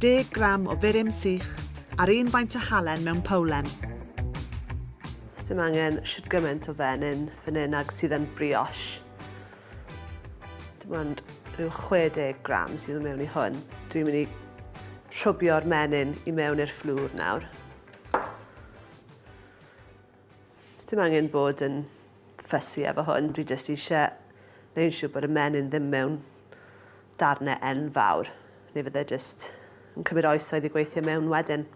10 gram o furum sych a'r un faint o halen mewn powlen. Sdim angen shwt gymaint o fenyn fan hyn ag sydd yn brioche. Dim ond rhyw 60 gram sydd yn mewn i hwn. Dwi'n mynd i rhwbio'r menyn i mewn i'r fflwr nawr. Sdim angen bod yn fussy efo hwn, dwi jyst eisiau neu yn siŵr bod y menyn ddim mewn darnau enfawr, neu fydde jyst yn cymryd oesoedd i gweithio mewn wedyn.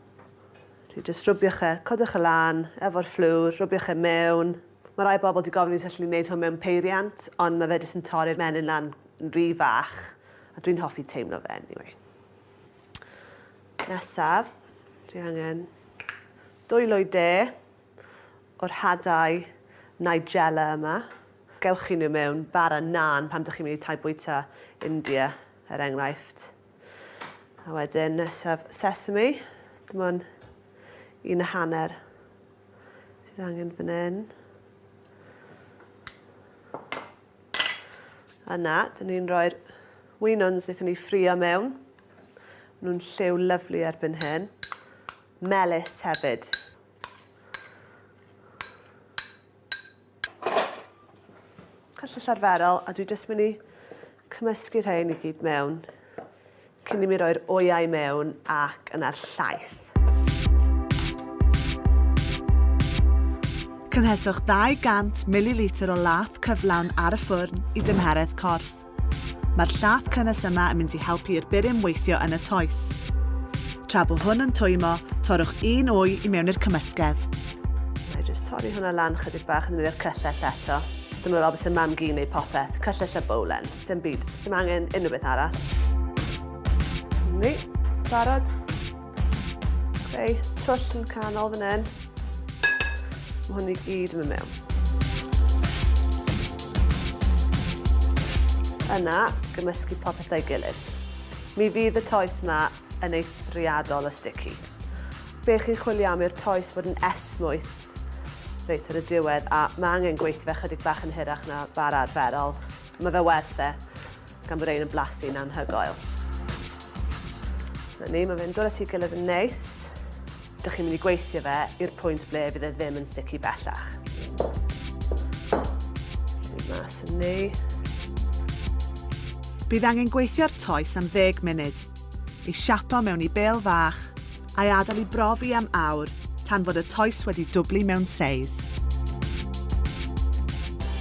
Felly jyst rwbiwch e, codwch e lan, efo'r fflwr, rwbiwch e mewn. Mae rhai bobl di gofyn i os allwn ni wneud hwn mewn peiriant, ond mae fe jyst yn torri'r menyn lan yn rhy fach, a dwi'n hoffi teimlo fe anyway. Nesaf, dwi angen Dwylo de o'r hadau Nigella yma. Gewch chi nhw mewn bara naan pan dych chi'n mynd i tai bwyta India, er enghraifft. A wedyn nesaf sesame, dim ond un a hanner sydd angen fan hyn. Yna, dyn ni'n rhoi'r wynons wnaethon ni ffrio mewn. Maen nhw'n lliw lyflu erbyn hyn. melys hefyd. Cyllyll arferol, a dwi jyst mynd i cymysgu rhain i gyd mewn cyn i mi roi'r oyau mewn ac yna'r llaeth. Cynheswch 200 mililitr o laeth cyflawn ar y ffwrn i dymheredd corff. Mae'r llath cynnes yma yn mynd i helpu i'r burum weithio yn y toes. Tra bo hwn yn twymo, torrwch un wy i mewn i'r cymysgedd. Mae jyst torri hwnna lan chydig bach yn ddefnyddio'r cyllell eto. Dyma fel byse mam gi'n neud popeth, cyllell a bowlen, sdim byd, ddim angen unrhyw beth arall. Ni, barod. Creu twll yn canol fan hyn. Mae hwn i gyd yn mynd mewn. Yna, gymysgu popeth o'i gilydd. Mi fydd y toes yma yn eithriadol o sticky. Be chi'n chwilio am i'r toes fod yn esmwyth reit ar y diwedd a mae angen gweithio fe chydig bach yn hirach na bar arferol. Mae fe werth e. gan bod rhein yn blasu'n anhygoel. Na ni, mae fe'n dod at ei gilydd yn neis. Dych chi'n mynd i gweithio fe i'r pwynt ble fydd e ddim yn sticky bellach. Dwi'n mas yn ni. Bydd angen gweithio'r toes am 10 munud. Ei siapo mewn i bêl fach a'i adael i brofi am awr tan fod y toes wedi dwblu mewn seis.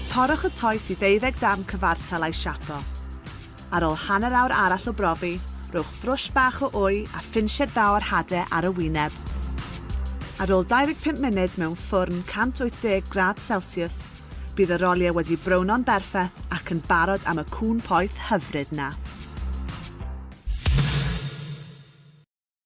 Torrwch y toes i ddeuddeg darn cyfartal a'i siapo. Ar ôl hanner awr arall o brofi, rhowch frwsh bach o wy a phinsied dda o'r hade ar y wyneb. Ar ôl 25 munud mewn ffwrn 180 gradd celsiws, bydd y roliau wedi browno'n berffeth ac yn barod am y cŵn poeth hyfryd 'na.